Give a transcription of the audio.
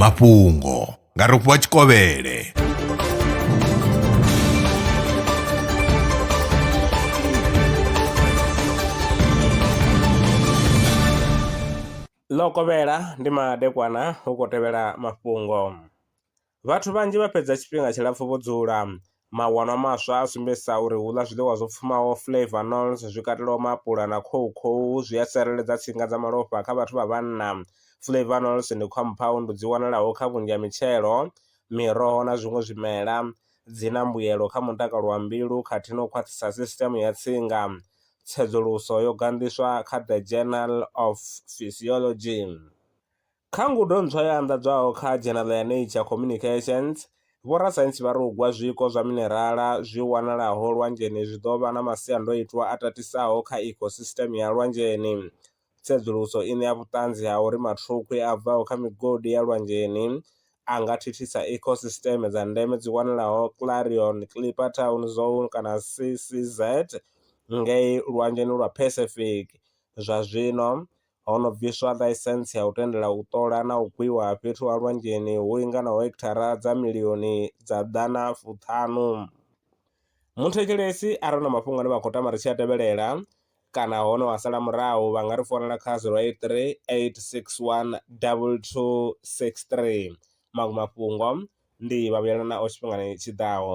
mafhungo nga rofhiwa tshikovhele ḽo kovhela ndi madekwana hu khou tevhela mafhungo Vhathu vhanzhi vha fhedza tshifhinga tshilapfu vho dzula. Mawanwa maswa a sumbedzisa uri u ḽa zwiḽiwa zwo pfumaho flavanols zwi katelaho maapula na khoukhou zwi a tsireledza tsinga dza malofha kha vhathu vha vhanna. Flavanols ndi khomphaundu dzi wanalaho kha vhunzhi ha mitshelo, miroho na zwiṅwe zwimela. Dzi na mbuyelo kha mutakalo wa mbilu khathihi na u khwaṱhisa sisiṱeme ya tsinga. Tsedzuluso yo ganḓiswa kha The Journal of Physiology. Kha ngudo ntswa yo anḓadzwaho kha dzhenala ya Nature Communications, vhorasaintsi vha ri u gwa zwiko zwa minerala zwi wanalaho lwanzheni zwi ḓo vha na masiandoitwa a tatisaho kha ecosystem ya lwanzheni. Tsedzuluso i ṋea vhuṱanzi ha uri mathukhwi a bvaho kha migodi ya lwanzheni a nga thithisa ecosystem dza ndeme dzi wanalaho Clarion Clipperton Zone kana CCZ ngei Lwanzheni lwa Pacific. Zwa zwino, ho no bviswa ḽaisentsi ya u tendela u ṱola na u gwiwa ha fhethu ha lwanzheni hu linganaho hekithara dza milioni dza ḓana fuṱhanu. Muthetshelesi arali hu na mafhungo ane vha khou tama ri tshi a tevhelela kana hone wa sala murahu vha nga ri founela kha zero eight three eight six one double two six three, maṅwe mafhungo ndi vha vhuyelana naho tshifhingani tshiḓaho.